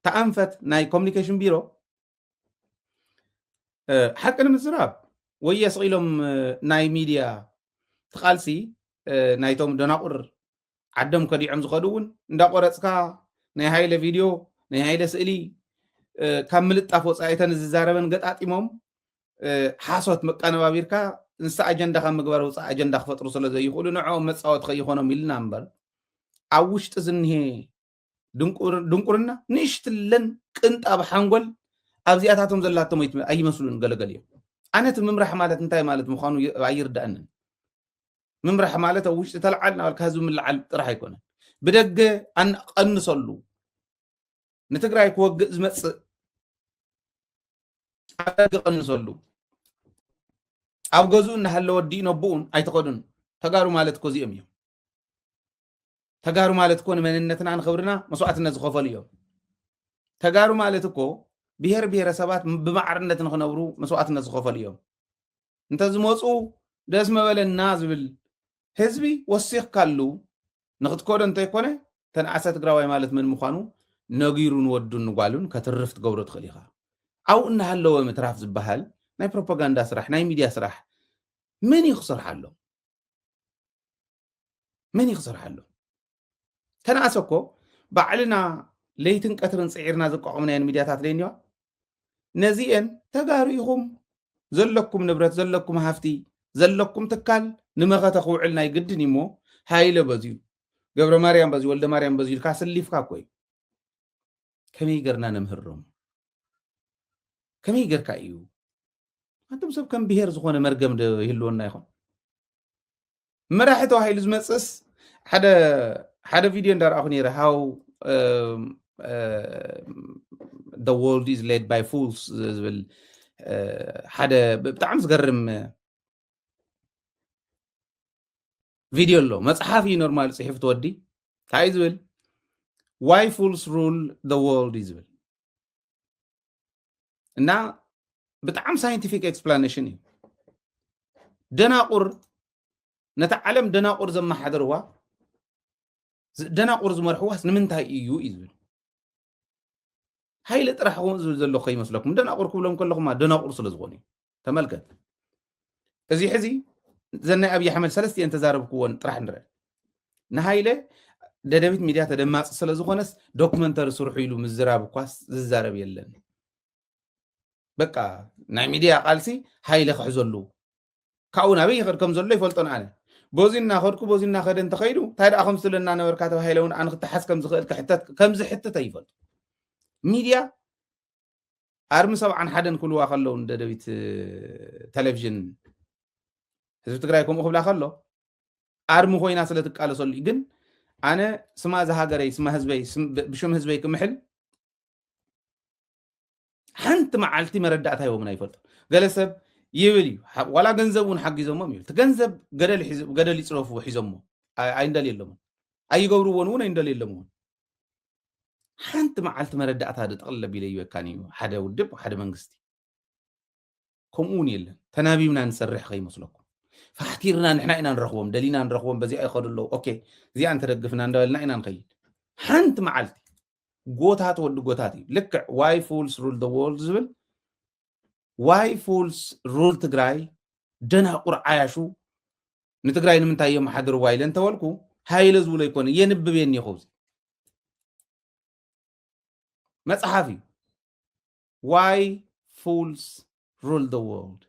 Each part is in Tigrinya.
እቲ ኣንፈት ናይ ኮሚኒኬሽን ቢሮ ሓቂ ንምዝራብ ወየ ስቂሎም ናይ ሚድያ ትቃልሲ ናይቶም ደናቁር ዓዶም ከዲዖም ዝኸዱ እውን እንዳቆረፅካ ናይ ሃይለ ቪድዮ ናይ ሃይለ ስእሊ ካብ ምልጣፍ ወፃኢተን ዝዛረበን ገጣጢሞም ሓሶት መቀነባቢርካ ንሳ ኣጀንዳ ካብ ምግባር ውፃእ ኣጀንዳ ክፈጥሩ ስለ ዘይኽእሉ ንዕኦም መፃወቲ ከይኾኖም ኢልና እምበር ኣብ ውሽጢ ዝኒሄ ድንቁርና ንእሽትለን ቅንጣብ ሓንጎል ኣብዚኣታቶም ዘላቶም ኣይመስሉን ገለገል እዮም ኣነ እቲ ምምራሕ ማለት እንታይ ማለት ምዃኑ ኣይርዳእንን ምምራሕ ማለት ኣብ ውሽጢ ተለዓል ናበልካ ህዝቢ ምልዓል ጥራሕ ኣይኮነን ብደገ ኣንቀንሰሉ ንትግራይ ክወግእ ዝመፅእ ኣደገ ቀንሰሉ ኣብ ገዝኡ እናሃለወ ዲኡ ነብኡን ኣይተኸዱን ተጋሩ ማለት እኮ እዚኦም እዮም ተጋሩ ማለት እኮ ንመንነትና ንክብርና መስዋእትነት ዝኸፈሉ እዮም ተጋሩ ማለት እኮ ብሄር ብሄረሰባት ብማዕርነት ንክነብሩ መስዋእትነት ዝኸፈሉ እዮም እንተዝመፁ ደስ መበለና ዝብል ህዝቢ ወሲኽካሉ ንክትከዶ እንተይኮነ ተንኣሰ ትግራዋይ ማለት ምን ምዃኑ ነጊሩ ንወዱ ንጓሉን ከትርፍ ትገብሮ ትኽእል ኢኻ ኣብኡ እናሃለወ ምትራፍ ዝበሃል ናይ ፕሮፓጋንዳ ስራሕ ናይ ሚድያ ስራሕ ምን እዩ ክሰርሓሎም መን እዩ ክሰርሓሎም? ተነኣሰ እኮ ባዕልና ለይትን ቀትርን ፅዒርና ዘቋቋምናየን ሚድያታት ለይኒዋ ነዚአን ተጋሩ ኢኹም ዘለኩም ንብረት ዘለኩም ሃፍቲ ዘለኩም ትካል ንመኸተ ክውዕል ናይ ግድን እዩሞ ሃይለ በዝዩ ገብረ ማርያም በዚ ወልደ ማርያም በዚ ኢልካ ስሊፍካ እኮ እዩ ከመይ ገርና ነምህሮም ከመይ ገርካ እዩ ኣንቶም ሰብ ከም ብሄር ዝኾነ መርገም ይህልወና ይኹን መራሒ ተባሂሉ ዝመፅእስ ሓደ ሓደ ቪድዮ እንዳረኣኹ ነይረ ሃው the world is led by fools ዝብል ሓደ ብጣዕሚ ዝገርም ቪድዮ ኣሎ መፅሓፍ እዩ ኖርማል ፅሒፍ ትወዲ እንታይ እዩ ዝብል ዋይ ፉልስ ሩል the world እዩ ዝብል እና ብጣዕሚ ሳይንቲፊክ ኤክስፕላኔሽን እዩ ደናቁር ነታ ዓለም ደናቁር ዘመሓደርዋ ደናቁር ዝመርሕዋስ ንምንታይ እዩ እዩ ዝብል ሃይለ ጥራሕ ዝብል ዘለኹ ይመስለኩም ደናቁር ክብሎም ከለኹማ ደናቁር ስለ ዝኾኑ እዩ ተመልከት እዚ ሕዚ እዘን ናይ ኣብዪ ኣሕመድ ሰለስቲኤን ተዛረብክዎን ጥራሕ ንርአ ንሃይለ ደደቢት ሚድያ ተደማፂ ስለ ዝኾነስ ዶክመንተሪ ስርሑ ኢሉ ምዝራብ እኳስ ዝዛረብ የለን በቃ ናይ ሚድያ ቃልሲ ሃይለ ክሕዘሉ ካብኡ ናበይ ይኸድ ከም ዘሎ ይፈልጦን ኣነ በዚ እናኸድኩ በዚ እናኸደ እንተኸይዱ እንታይ ደኣ ከም ዝብለና ነበርካ ተባሂለ እውን ኣነ ክተሓዝ ከም ዝኽእል ክሕተት ከም ዝሕትተ ይፈልጡ ሚድያ ኣርሚ ሰብዓን ሓደን ክብልዋ ከለዉ ንደደቢት ቴሌቭዥን ህዝቢ ትግራይ ከምኡ ክብላ ከሎ ኣርሚ ኮይና ስለ ትቃለሰሉ እዩ ግን ኣነ ስማ እዚ ሃገረይ ስማ ህዝበይ ብሽም ህዝበይ ክምሕል ሓንቲ መዓልቲ መረዳእታ ይቦምን ኣይፈልጡ ገለ ሰብ ይብል እዩ ዋላ ገንዘብ እውን ሓጊዞሞም ይብል እቲ ገንዘብ ገደል ይፅረፍዎ ሒዞሞ ኣይንደልየሎምን ኣይገብርዎን እውን ኣይንደልየሎም እውን ሓንቲ መዓልቲ መረዳእታ ጠቕልል ኣቢለ ይበካን እዩ ሓደ ውድብ ሓደ መንግስቲ ከምኡ እውን የለን ተናቢብና ንሰርሕ ከይመስለኩም ፋሕቲርና ንሕና ኢና ንረኽቦም ደሊና ንረኽቦም በዚኣ ይኸዱ ኣለዉ ኦኬ እዚኣ እንተደግፍና እንዳበልና ኢና ንኸይድ ሓንቲ መዓልቲ ጎታት ወዲ ጎታት እዩ ልክዕ ዋይ ፉልስ ሩል ደ ወርልድ ዝብል ዋይ ፉልስ ሩል ትግራይ ደናቁር ዓያሹ ንትግራይ ንምንታይ የመሓድርዋ ኢለ እንተበልኩ ሃይለ ዝብሎ ኣይኮነ የንብብ እየ እኒኹ እዚ መፅሓፍ እዩ ዋይ ፉልስ ሩል ደ ወርልድ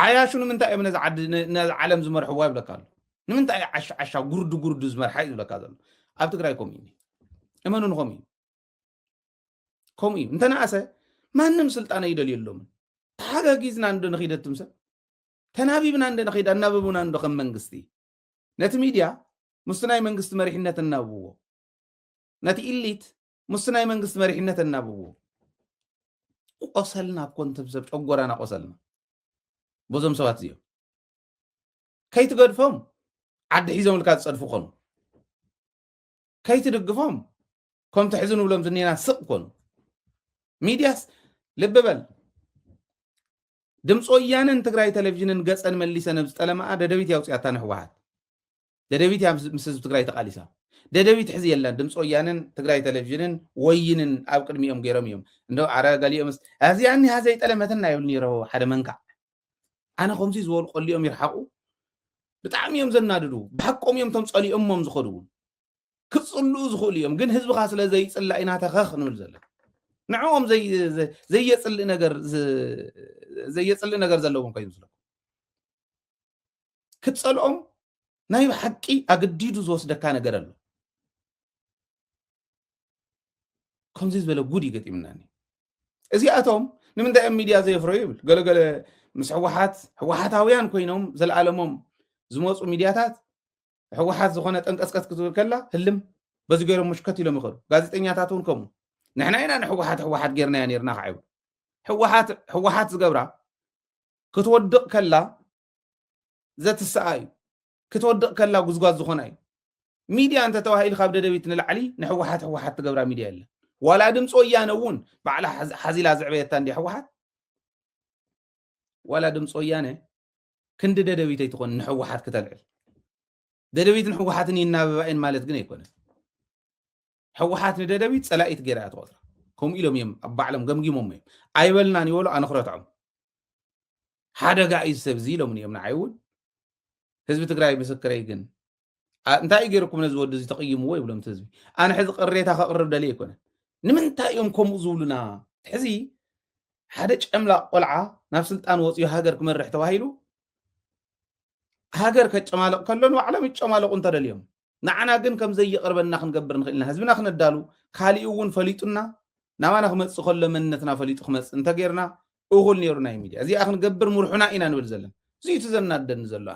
ዓያሹ ንምንታይ እዮም ነዚ ዓዲ ነዚ ዓለም ዝመርሕዋ ይብለካ ኣሎ ንምንታይ እዩ ዓሻ ዓሻ ጉርዱ ጉርዱ ዝመርሓ እዩ ዝብለካ ዘሎ ኣብ ትግራይ ከምኡ እዩ እመኑ ንኸምኡ እዩ ከምኡ እዩ እንተነኣሰ ማንም ስልጣን ኣይደልየሎምን ተሓጋጊዝና እንዶ ንኺድ እትም ሰብ ተናቢብና እንደ ንኺድ ኣናብቡና እንዶ ከም መንግስቲ ነቲ ሚድያ ምስቲ ናይ መንግስቲ መሪሕነት እናብብዎ ነቲ ኢሊት ምስቲ ናይ መንግስቲ መሪሕነት እናብብዎ ቆሰልና እኮ እንትም ሰብ ጨጎራና ቆሰልና በዞም ሰባት እዚኦም ከይትገድፎም ዓዲ ሒዞም ኢልካ ዝፀድፉ ኾኑ ከይትድግፎም ከምቲ ሕዚ ንብሎም ዝኒና ስቕ ኮኑ ሚድያስ ልቢ በል ድምፂ ወያነን ትግራይ ቴሌቭዥንን ገፀን መሊሰን ኣብ ዝጠለማኣ ደደቢት ያውፅያታ ንሕወሓት ደደቢት እያ ምስ ህዝቢ ትግራይ ተቓሊሳ ደደቢት ሕዚ የለን ድምፂ ወያነን ትግራይ ቴሌቭዥንን ወይንን ኣብ ቅድሚኦም ገይሮም እዮም እንዶ ኣረ ገሊኦምስ እዚኣ እኒሃ ዘይጠለመትና ይብሉ ነይሮ ሓደ መንካዕ ኣነ ከምዚ ዝበሉ ቆሊኦም ይርሓቑ ብጣዕሚ እዮም ዘናድዱ ብሓቆም እዮም ቶም ጸሊኦሞም ዝኸዱ እውን ክጽልኡ ዝኽእሉ እዮም ግን ህዝብኻ ስለ ዘይጽላእ ኢና ተኸኽ ንብል ዘለና ንዕኦም ዘየጽልእ ነገር ዘየጽልእ ነገር ዘለዎም ከዩ ዝለኩም ክትጸልኦም ናይ ብሓቂ ኣገዲዱ ዝወስደካ ነገር ኣሎ ከምዚ ዝበለ ጉድ ይገጢምናኒ እዚኣቶም ንምንታይ እዮም ሚድያ ዘየፍረዩ ይብል ገለገለ ምስ ሕወሓት ሕወሓታውያን ኮይኖም ዘለኣለሞም ዝመፁ ሚድያታት ሕወሓት ዝኾነ ጠንቀስቀስ ክትብል ከላ ህልም በዚ ገይሮም ምሽከት ኢሎም ይኸዱ ጋዜጠኛታት እውን ከምኡ ንሕና ኢና ንሕወሓት ሕወሓት ጌርናያ ነርና ከዓ ይብሉ ሕወሓት ሕወሓት ዝገብራ ክትወድቕ ከላ ዘትስኣ እዩ ክትወድቕ ከላ ጉዝጓዝ ዝኾና እዩ ሚድያ እንተተባሂሉ ካብ ደደቢት ንላዕሊ ንሕወሓት ሕወሓት ትገብራ ሚድያ የለን ዋላ ድምፂ ወያነ እውን ባዕላ ሓዚላ ዘዕበየታ እንዲ ሕወሓት ዋላ ድምፂ ወያነ ክንዲ ደደቢት ኣይትኾን ንሕወሓት ክተልዕል ደደቢትን ሕወሓትን ይናበባ እየን ማለት ግን ኣይኮነን ሕወሓት ንደደቢት ፀላኢት ገይራ እያ ትቆፅራ ከምኡ ኢሎም እዮም ኣብ ባዕሎም ገምጊሞም እዮም ኣይበልናን ይበሉ ኣነ ክረትዖም ሓደጋ እዩ ሰብ እዚ ኢሎምን እዮም ንዓይ እውን ህዝቢ ትግራይ ምስክረይ ግን እንታይ እዩ ገይርኩም ነዚ ወዲ እዚ ተቕይምዎ ይብሎም እቲ ህዝቢ ኣነ ሕዚ ቅሬታ ከቕርብ ደልየ ኣይኮነን ንምንታይ እዮም ከምኡ ዝብሉና ሕዚ ሓደ ጨምላቕ ቆልዓ ናብ ስልጣን ወፅዮ ሃገር ክመርሕ ተባሂሉ ሃገር ከጨማልቕ ከሎ ንባዕሎም ይጨማለቑ እንተደልዮም ንዓና ግን ከም ዘይቕርበና ክንገብር ንኽእል ኢና ህዝብና ክነዳሉ ካሊኡ እውን ፈሊጡና ናባና ክመፅእ ከሎ መንነትና ፈሊጡ ክመፅእ እንተገይርና እኹል ነይሩ ናይ ሚድያ እዚኣ ክንገብር ምርሑና ኢና ንብል ዘለና እዚዩ እቲ ዘናደኒ ዘሎ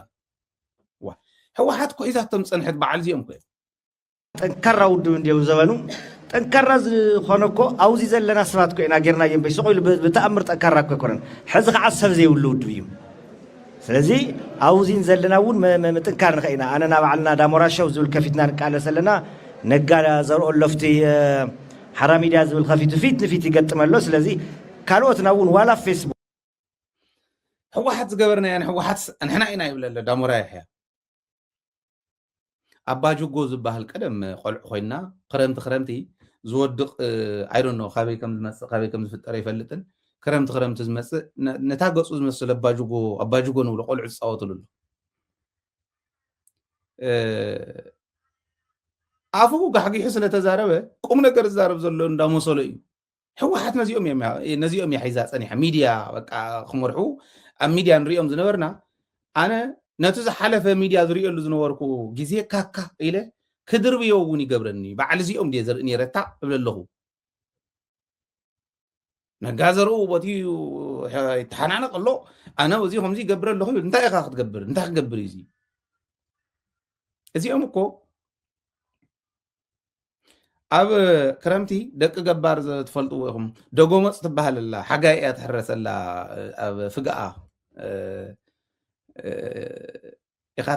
ህወሓት ኩሒዛቶም ፀንሐት በዓል እዚኦም ኮ ጠንካራ ውድብ እንድዮም ዘበኑ ጠንካራ ዝኾነ እኮ ኣብዚ ዘለና ሰባት እኮ ኢና ጌርናዮ እምበይ ስቕ ኢሉ ብተኣምር ጠንካራ እኮ ኣይኮነን ሕዚ ከዓ ሰብ ዘይብሉ ውድብ እዩ ስለዚ ኣብዚን ዘለና እውን ምጥንካር ንኸ ኢና ኣነና ባዕልና ዳሞራሸው ዝብል ከፊትና ንቃለስ ኣለና ነጋ ዘርኦ ለፍቲ ሓራ ሚድያ ዝብል ከፊቱ ፊት ንፊት ይገጥም ኣሎ ስለዚ ካልኦትና እውን ዋላ ፌስቡክ ሕወሓት ዝገበርናዮ ንሕወሓት ንሕና ኢና ይብለ ኣሎ ዳሞራ ይሕያ ኣባጅጎ ዝባሃል ቀደም ቆልዑ ኮይና ክረምቲ ክረምቲ ዝወድቕ ኣይዶኖ ካበይ ከም ዝመጽእ ካበይ ከም ዝፍጠር ኣይፈልጥን ክረምቲ ክረምቲ ዝመጽእ ነታ ገጹ ዝመስል ኣባጅጎ ኣባጅጎ ንብሎ ቆልዑ ዝፃወትሉ ኣሎ ኣፉ ጋሕጊሑ ስለተዛረበ ቁም ነገር ዝዛረብ ዘሎ እንዳመሰሎ እዩ ህወሓት ነዚኦም እዮም ነዚኦም እያ ሒዛ ፀኒሓ ሚድያ በቃ ክመርሑ ኣብ ሚድያ ንሪኦም ዝነበርና ኣነ ነቲ ዝሓለፈ ሚድያ ዝሪኦሉ ዝነበርኩ ግዜ ካካ ኢለ ክድርብዮ እውን ይገብረኒ እዩ በዓል እዚኦም ድየ ዘርኢ ነረታ እብለ ኣለኹ ነጋ ዘርኡ ቦትኡ ይተሓናነቕ ኣሎ ኣነ እዚ ከምዚ ይገብረ ኣለኹ ይብል እንታይ ኢኻ ክትገብር እንታይ ክገብር እዩ እዚ እዚኦም እኮ ኣብ ክረምቲ ደቂ ገባር ትፈልጥዎ ኢኹም ደጎመፅ ትበሃል ኣላ ሓጋይ እያ ትሕረሰላ ኣብ ፍግኣ ኢኻ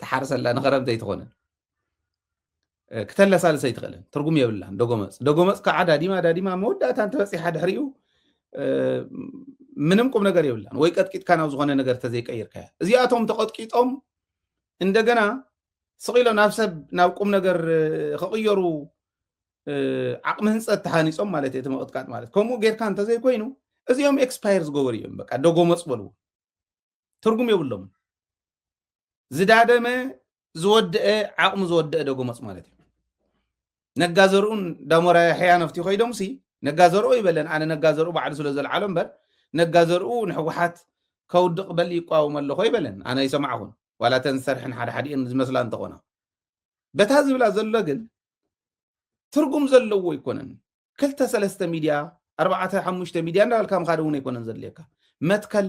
ትሓርሰላ ንክረምቲ ኣይትኾነ ክተለሳልሰ ኣይትኽእልን ትርጉም የብላን ደጎመፅ ደጎመፅ ከዓ ዳዲማ ዳዲማ መወዳእታ እንተበፂሓ ድሕሪኡ ምንም ቁም ነገር የብላን ወይ ቀጥቂጥካ ናብ ዝኾነ ነገር ተዘይቀይርካያ እዚኣቶም ተቐጥቂጦም እንደገና ስቕ ኢሎም ናብ ሰብ ናብ ቁም ነገር ክቕየሩ ዓቕሚ ህንፀት ተሃኒፆም ማለት እቲ ምቕጥቃጥ ማለት ከምኡ ጌርካ እንተዘይኮይኑ እዚኦም ኤክስፓየር ዝገበሩ እዮም በቃ ደጎመፅ በልዎ ትርጉም የብሎም ዝዳደመ ዝወደአ ዓቕሙ ዝወደአ ደጎመፅ ማለት እዩ ነጋ ዘርኡን ዳሞራ ያሕያ ነፍቲ ኮይዶምሲ ነጋ ዘርኦ ይበለን ኣነ ነጋ ዘርኡ ባዕሉ ስለ ዘልዓሎ እምበር ነጋ ዘርኡ ንሕወሓት ከውድቕ በል ይቋወም ኣለኾ ይበለን ኣነ ይሰማዕኹን ዋላ ተን ዝሰርሐን ሓደ ሓዲኤን ዝመስላ እንተኾና በታ ዝብላ ዘሎ ግን ትርጉም ዘለዎ ኣይኮነን ክልተ ሰለስተ ሚድያ ኣርባዕተ ሓሙሽተ ሚድያ እንዳበልካ ምካድ እውን ኣይኮነን ዘድልየካ መትከል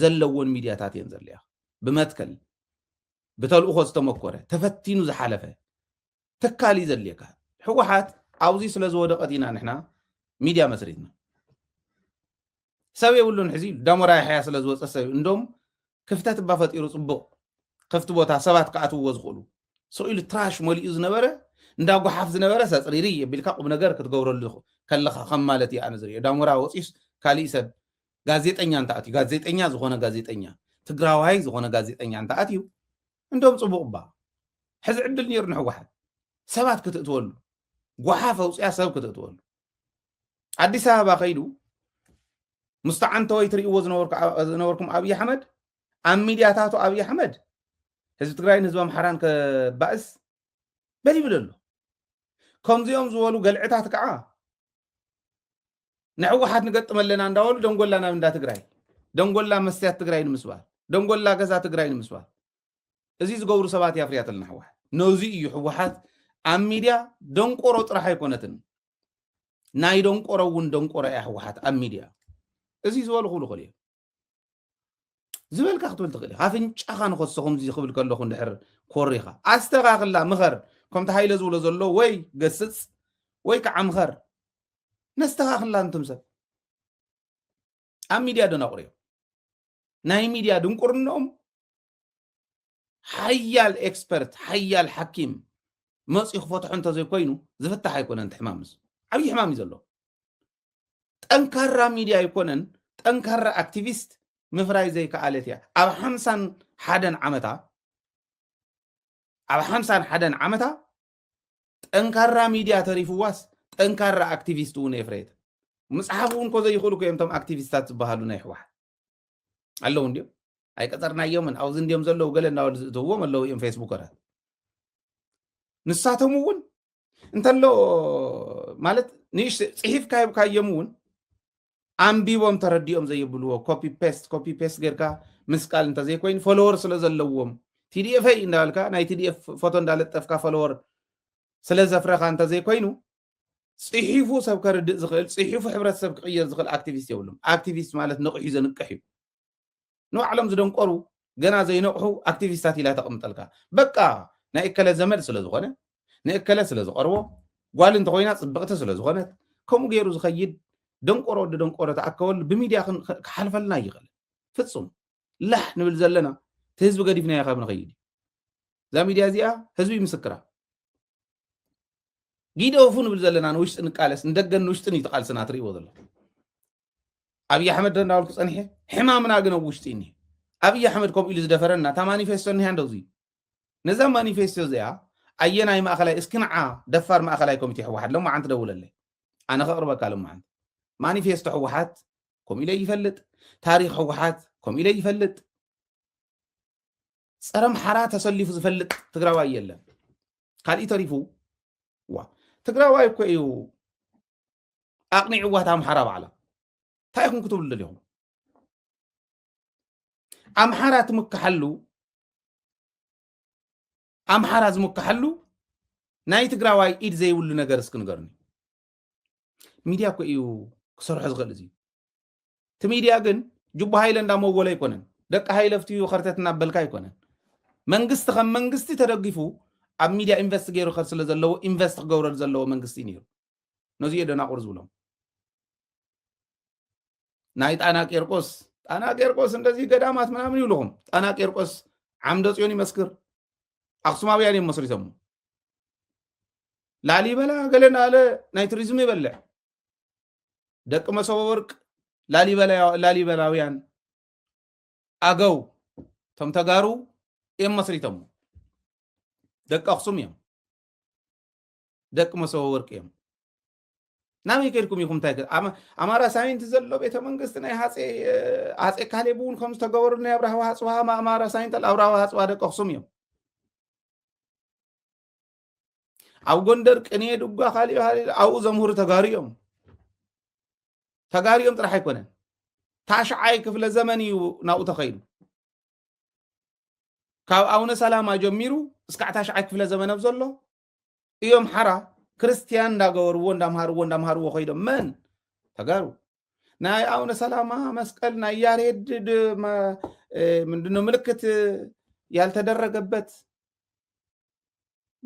ዘለዎን ሚድያታት እየን ዘድልያ ብመትከል ብተልእኾ ዝተመኮረ ተፈቲኑ ዝሓለፈ ትካል እዩ ዘድልየካ ሕወሓት ኣብዚ ስለ ዝወደቐት ኢና ንሕና ሚድያ መስሪትና ሰብ የብሉን ሕዚ ዳሞራ ያሕያ ስለ ዝወፀ ሰብ እንዶም ክፍተት እባ ፈጢሩ ፅቡቕ ክፍቲ ቦታ ሰባት ክኣትውዎ ዝኽእሉ ስኢሉ ትራሽ መሊኡ ዝነበረ እንዳ ጓሓፍ ዝነበረ ሰፅሪሪ የቢልካ ቁም ነገር ክትገብረሉ ከለኻ ከም ማለት እዩ ኣነ ዝሪኦ ዳሞራ ወፂስ ካሊእ ሰብ ጋዜጠኛ እንተኣትዩ ጋዜጠኛ ዝኾነ ጋዜጠኛ ትግራዋይ ዝኾነ ጋዜጠኛ እንተኣትዩ እንዶም ፅቡቕ እባ ሕዚ ዕድል ነይሩ ንሕወሓት ሰባት ክትእትወሉ ጓሓፍ ኣውፅያ ሰብ ክትእትወሉ ኣዲስ ኣበባ ከይዱ ምስ ተዓንተወይ ትርእይዎ ዝነበርኩም ኣብዪ ኣሕመድ ኣብ ሚድያታቱ ኣብዪ ኣሕመድ ህዝቢ ትግራይን ህዝቢ ኣምሓራን ከባእስ በል ይብል ኣሎ ከምዚኦም ዝበሉ ገልዕታት ከዓ ንሕወሓት ንገጥም ኣለና እንዳበሉ ደንጎላ ናብ እንዳ ትግራይ ደንጎላ መስትያት ትግራይ ንምስባር ደንጎላ ገዛ ትግራይ ንምስባር እዚ ዝገብሩ ሰባት እያ ፍርያተልና ሕወሓት ነዚ እዩ ሕወሓት ኣብ ሚድያ ደንቆሮ ጥራሕ ኣይኮነትን ናይ ደንቆሮ እውን ደንቆሮ እያ ሕወሓት ኣብ ሚድያ እዚ ዝበልኩሉ ክል እዩ ዝበልካ ክትብል ትኽእል ኢኻ ኣፍንጫኻ ንኸሶ ከምዚ ክብል ከለኹ እንድሕር ኮሪኻ ኣስተኻኽላ ምኸር ከምቲ ሃይለ ዝብሎ ዘሎ ወይ ገስጽ ወይ ከዓ ምኸር ነስተኻኽላ እንቱም ሰብ ኣብ ሚድያ ደናቑር እዮም ናይ ሚድያ ድንቁርኖኦም ሓያል ኤክስፐርት ሓያል ሓኪም መፅኡ ክፈትሖ እንተዘይኮይኑ ዝፍታሕ ኣይኮነን እቲ ሕማምስ ዓብዪ ሕማም እዩ ዘለዎ ጠንካራ ሚድያ ኣይኮነን ጠንካራ ኣክቲቪስት ምፍራይ ዘይከኣለት እያ ኣብ ሓምሳን ሓደን ዓመታ ኣብ ሓምሳን ሓደን ዓመታ ጠንካራ ሚድያ ተሪፍዋስ ጠንካራ ኣክቲቪስት እውን የፍረየት ምፅሓፍ እውን ኮ ዘይኽእሉ ኮ እዮም እቶም ኣክቲቪስታት ዝበሃሉ ናይ ሕወሓት ኣለዉ እንዲዮም ኣይቀፀርናዮምን ኣብዚ እንዲዮም ዘለዉ ገለ እናበሉ ዝእትውዎም ኣለዉ እዮም ፌስቡከራት ንሳቶም እውን እንተሎ ማለት ንእሽ ፅሒፍካ ሂብካዮም እውን ኣንቢቦም ተረዲኦም ዘይብልዎ ኮፒ ፔስት ኮፒ ፔስት ጌርካ ምስቃል እንተዘይኮይኑ ፎሎወር ስለ ዘለዎም ቲዲኤፈይ እንዳበልካ ናይ ቲዲኤፍ ፎቶ እንዳለጠፍካ ፎሎወር ስለ ዘፍረኻ እንተዘይኮይኑ ፅሒፉ ሰብ ከርድእ ዝኽእል ፅሒፉ ሕብረተሰብ ክቅየር ዝኽእል ኣክቲቪስት የብሉም ኣክቲቪስት ማለት ንቕሑ ዘንቅሕ እዩ ንባዕሎም ዝደንቆሩ ገና ዘይነቕሑ ኣክቲቪስታት ኢላ ተቕምጠልካ በቃ ናይ እከለ ዘመድ ስለ ዝኾነ ንእከለ ስለ ዝቐርቦ ጓል እንተኾይና ፅብቕቲ ስለ ዝኾነት ከምኡ ገይሩ ዝኸይድ ደንቆሮ ወዲ ደንቆሮ ተኣከበሉ ብሚድያ ክሓልፈልና ይኽእል ፍፁም ላሕ ንብል ዘለና እቲ ህዝቢ ገዲፍናዮ ካብ ንኸይድ እዛ ሚድያ እዚኣ ህዝቢ ምስክራ ጊደፉ ንብል ዘለና ንውሽጢ ንቃለስ ንደገን ንውሽጥን እዩ ተቃልስና ትርእይዎ ዘለኹም ኣብዪ ኣሕመድ ዶ እንዳበልኩ ፀኒሐ ሕማምና ግን ኣብ ውሽጢ እኒ ኣብዪ ኣሕመድ ከምኡ ኢሉ ዝደፈረና እታ ማኒፌስቶ እኒሃ እንደዚ ነዛ ማኒፌስቶ እዚኣ ኣየናይ ማእኸላይ እስኪ ንዓ ደፋር ማእኸላይ ኮሚቴ ሕወሓት ሎማዓንቲ ደውለለይ ኣነ ከቕርበካ ሎማዓንቲ ማኒፌስቶ ሕወሓት ከምኡ ኢለ ይፈልጥ ታሪክ ሕወሓት ከምኡ ኢለ ይፈልጥ ፀረ ምሓራ ተሰሊፉ ዝፈልጥ ትግራዋይ የለን ካልእ ተሪፉ ዋ ትግራዋይ እኮ እዩ ኣቕኒዕዋ ኣምሓራ ባዕላ እንታይ ኢኹም ክትብሉ ደሊኹም ኣምሓራ ትምክሓሉ ኣምሓራ ዝምክሓሉ ናይ ትግራዋይ ኢድ ዘይብሉ ነገር እስኪ ንገርኒ ሚድያ እኮ እዩ ክሰርሖ ዝኽእል እዚ እቲ ሚድያ ግን ጅቡ ሃይለ እንዳመወለ ኣይኮነን ደቂ ሃይለ ፍትዩ ከርተት እናበልካ ኣይኮነን መንግስቲ ከም መንግስቲ ተደጊፉ ኣብ ሚድያ ኢንቨስት ገይሩ ከር ስለ ዘለዎ ኢንቨስት ክገብረሉ ዘለዎ መንግስቲ እዩ ነይሩ ነዚ እየ ደናቑር ዝብሎም ናይ ጣና ቄርቆስ ጣና ቄርቆስ እንደዚህ ገዳማት ምናምን ይብልኹም ጣና ቄርቆስ ዓምደ ጽዮን ይመስክር ኣክሱማውያን እዮም መስሪቶሞ ላሊበላ ገለ ናለ ናይ ቱሪዝም ይበልዕ ደቂ መሰበ ወርቅ ላሊበላውያን ኣገው እቶም ተጋሩ እዮም መስሪቶሞ ደቂ ኣክሱም እዮም ደቂ መሶበ ወርቂ እዮም ናበይ ከድኩም ኢኹም እንታይ ኣማራ ሳይንቲ ዘሎ ቤተ መንግስቲ ናይ ሃፀ ካሌብ እውን ከም ዝተገበሩ ናይ ኣብራሃዋ ሃፅዋ ኣማራ ሳይንት ኣብራሃዋ ሃፅዋ ደቂ ኣክሱም እዮም ኣብ ጎንደር ቅንየ ድጓ ካሊኦ ኣብኡ ዘምህሩ ተጋሩ እዮም ተጋሩ እዮም ጥራሕ ኣይኮነን ታሽዓይ ክፍለ ዘመን እዩ ናብኡ ተኸይዱ ካብ ኣውነ ሰላማ ጀሚሩ እስካዕ ታሽዓይ ክፍለ ዘመን ኣብ ዘሎ እዮም ሓራ ክርስትያን እንዳገበርዎ እንዳምሃርዎ እንዳምሃርዎ ኮይዶም መን ተጋሩ ናይ ኣቡነ ሰላማ መስቀል ናይ ያሬድ ምንድነው ምልክት ያልተደረገበት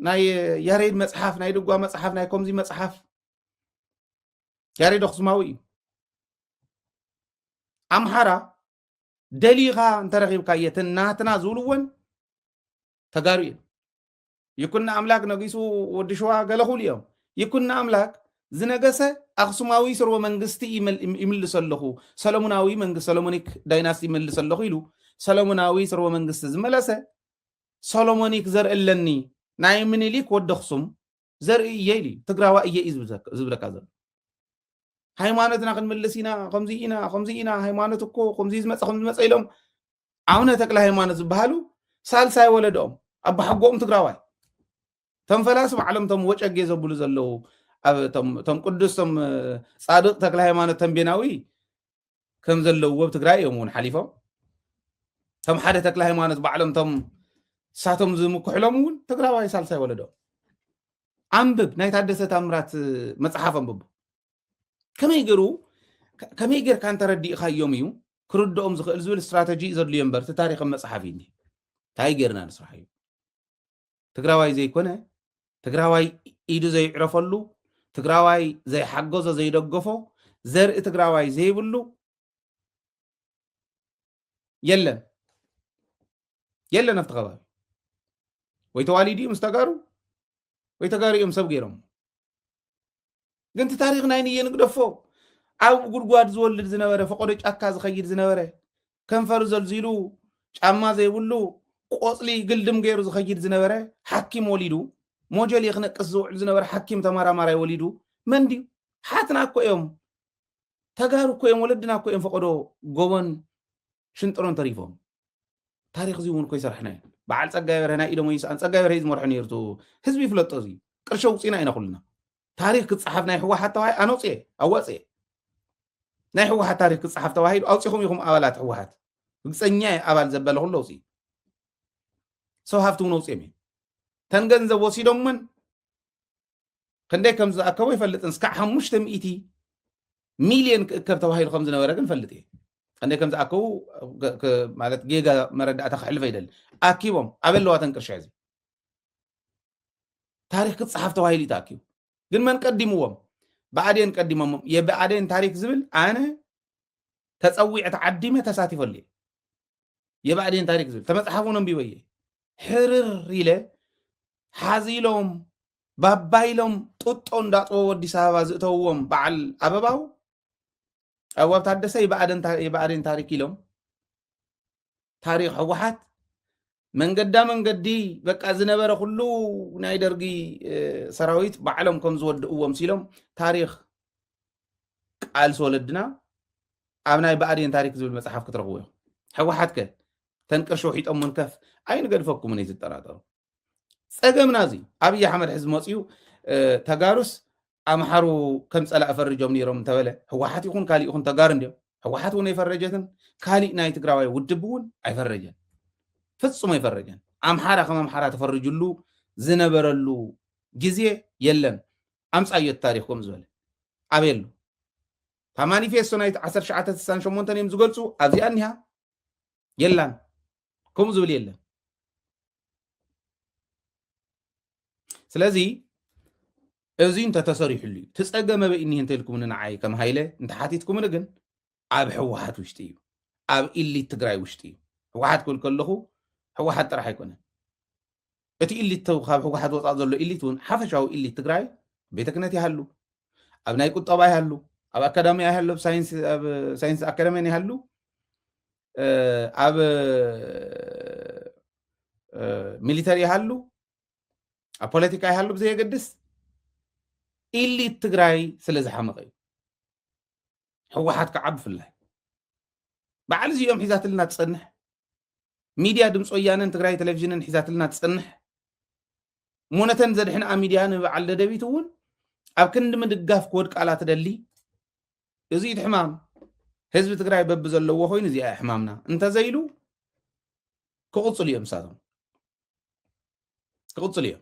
ናይ ያሬድ መፅሓፍ ናይ ድጓ መፅሓፍ ናይ ከምዚ መፅሓፍ ያሬድ ኣክሱማዊ እዩ ኣምሓራ ደሊኻ እንተረኺብካ የትን ናትና ዝብልዎን ተጋሩ እዮም ይኩኖ ኣምላክ ነጊሱ ወዲ ሽዋ ገለ ኩሉ እዮም ይኩኖ ኣምላክ ዝነገሰ ኣክሱማዊ ስርወ መንግስቲ ይምልሶ ኣለኹ ሰለሙናዊ መንግስቲ ሰለሞኒክ ዳይናስቲ ይምልሶ ኣለኹ ኢሉ ሰለሙናዊ ስርወ መንግስቲ ዝመለሰ ሰሎሞኒክ ዘርእለኒ ናይ ምኒሊክ ወዲ ኣክሱም ዘርኢ እየ ኢሉ እዩ ትግራዋ እየ እዩ ዝብለካ ዘሎ ሃይማኖትና ክንምልስ ኢና ከምዚ ኢና ከምዚ ኢና ሃይማኖት እኮ ከምዚ ዝመፀ ከምዚ መፀ ኢሎም ኣቡነ ተክለ ሃይማኖት ዝበሃሉ ሳልሳይ ወለዶኦም ኣባሓጎኦም ትግራዋይ ቶም ፈላሲ ባዕሎም ቶም ወጨጌ ዘብሉ ዘለዉ ቶም ቅዱስ ቶም ፃድቅ ተክለ ሃይማኖት ተንቤናዊ ከም ዘለውዎ ብ ትግራይ እዮም እውን ሓሊፎም ከም ሓደ ተክለ ሃይማኖት ባዕሎም ቶም እሳቶም ዝምክሕሎም እውን ትግራዋይ ሳልሳይ ወለዶ ኣንብብ ናይ ታደሰ ታምራት መፅሓፍ ኣንብቡ ከመይ ገይሩ ከመይ ጌርካ እንተረዲእካዮም እዩ ክርድኦም ዝኽእል ዝብል ስትራተጂ ዘድልዮ እምበር እቲ ታሪክም መፅሓፍ እዩ እንታይ ጌርና ንስራሕ እዩ ትግራዋይ ዘይኮነ ትግራዋይ ኢዱ ዘይዕረፈሉ ትግራዋይ ዘይሓገዞ ዘይደገፎ ዘርኢ ትግራዋይ ዘይብሉ የለን የለን ኣብቲ ከባቢ ወይ ተዋሊዱ እዩ ምስ ተጋሩ ወይ ተጋሩ እዮም ሰብ ገይሮም ግን እቲ ታሪክ ናይ ንየ ንግደፎ ኣብ ጉድጓድ ዝወልድ ዝነበረ ፈቆዶ ጫካ ዝኸይድ ዝነበረ ከንፈሩ ዘልዚሉ ጫማ ዘይብሉ ቆፅሊ ግልድም ገይሩ ዝኸይድ ዝነበረ ሓኪም ወሊዱ ሞጀሌ ክነቅስ ዝውዕል ዝነበረ ሓኪም ተመራማራይ ወሊዱ መን ድዩ ሓትና እኮ እዮም ተጋሩ እኮ እዮም ወለድና እኮ እዮም ፈቐዶ ጎቦን ሽንጥሮን ተሪፎም ታሪክ እዚ እውን እኮ ይሰርሐና እዩ በዓል ፀጋይ በርሀ ናይ ኢዶሞ ይስኣን ፀጋይ በርሀ እዩ ዝመርሖ ነይሩ ህዝቢ ይፍለጦ እዚ ቅርሺ ውፅኢና ኢና ኩልና ታሪክ ክፀሓፍ ናይ ህወሓት ተባሂ ኣነውፅኤ ኣዋፅኤ ናይ ህወሓት ታሪክ ክፀሓፍ ተባሂሉ ኣውፂኹም ኢኹም ኣባላት ህወሓት ርግፀኛ እየ ኣባል ዘበለ ኩሎ ውፅኢ ሰው ሃፍቲ እውን ኣውፅኦም እዮም ተን ገንዘብ ወሲዶምን ክንደይ ከም ዝኣከቡ ይፈልጥን እስካዕ ሓሙሽተ ሚእቲ ሚልዮን ክእከብ ተባሂሉ ከም ዝነበረ ግን ፈልጥ እየ ክንደይ ከም ዝኣከቡ ማለት ጌጋ መረዳእታ ክሕልፈ ይደሊ ኣኪቦም ኣበለዋተን ቅርሻ እዚ ታሪክ ክፀሓፍ ተባሂሉ እዩ ተኣኪቡ ግን መን ቀዲምዎም ብኣዴን ቀዲሞሞም የብኣዴን ታሪክ ዝብል ኣነ ተፀዊዐ ተዓዲመ ተሳቲፈሉ እየ የብኣዴን ታሪክ ዝብል ተመፅሓፍ እውን ኣንቢበ እየ ሕርር ኢለ ሓዚሎም ባባይሎም ጡጦ እንዳጥበቡ ኣዲስ ኣበባ ዝእተውዎም በዓል ኣበባው ኣዋብ ታደሰ ይባኣደን ታሪክ ኢሎም ታሪክ ሕወሓት መንገዳ መንገዲ በቃ ዝነበረ ኩሉ ናይ ደርጊ ሰራዊት ባዕሎም ከም ዝወድእዎ ምሲሎም ታሪክ ቃልሲ ወለድና ኣብ ናይ ብኣዴን ታሪክ ዝብል መፅሓፍ ክትረኽቡ እዮም ሕወሓት ከ ተንቅርሺ ውሒጦም ከፍ ኣይንገድፈኩምን እዩ ዝጠራጠሩ ፀገምና እዚ ኣብዪ ኣሕመድ ሕዚ መፅኡ ተጋሩስ ኣምሓሩ ከም ፀላእ ፈርጆም ነይሮም እንተበለ ህወሓት ይኹን ካሊእ ይኹን ተጋሩ እንዲዮም ህወሓት እውን ኣይፈረጀትን ካሊእ ናይ ትግራዋይ ውድብ እውን ኣይፈረጀን ፍፁም ኣይፈረጀን ኣምሓራ ከም ኣምሓራ ተፈርጅሉ ዝነበረሉ ግዜ የለን ኣምፃዮ ታሪክ ከም ዝበለ ኣበየሉ ካብ ማኒፌስቶ ናይ 1968 እዮም ዝገልፁ ኣብዚኣ እኒሃ የላን ከምኡ ዝብል የለን ስለዚ እዚ እንተተሰሪሕሉ እዩ ትፀገመ በይኒህ እንተልኩምኒ ንዓይ ከም ሃይለ እንተሓቲትኩምኒ ግን ኣብ ሕወሓት ውሽጢ እዩ ኣብ ኢሊት ትግራይ ውሽጢ እዩ ሕወሓት ክብል ከለኹ ሕወሓት ጥራሕ ኣይኮነን እቲ ኢሊት ካብ ህወሓት ወፃእ ዘሎ ኢሊት እውን ሓፈሻዊ ኢሊት ትግራይ ኣብ ቤተ ክህነት ይሃሉ ኣብ ናይ ቁጠባ ይሃሉ ኣብ ኣካዳሚያ ይሃሉ ኣብ ሳይንስ ኣካዳሚያን ይሃሉ ኣብ ሚሊተሪ ይሃሉ ኣብ ፖለቲካ ይሃሉ ብዘየገድስ ኢሊት ትግራይ ስለ ዝሓመቐ እዩ ህወሓት ከዓ ብፍላይ በዓል እዚኦም ሒዛትልና ትፀንሕ ሚድያ ድምፂ ወያነን ትግራይ ቴሌቭዥንን ሒዛትልና ትፅንሕ እሞ ነተን ዘድሕንኣ ሚድያ ንበዓል ደደቢት እውን ኣብ ክንዲ ምድጋፍ ክወድቃላ ትደሊ እዚ እቲ ሕማም ህዝቢ ትግራይ በቢ ዘለዎ ኮይኑ እዚኣ ሕማምና እንተዘይሉ ክቕፅሉ እዮም ንሳቶም ክቕፅሉ እዮም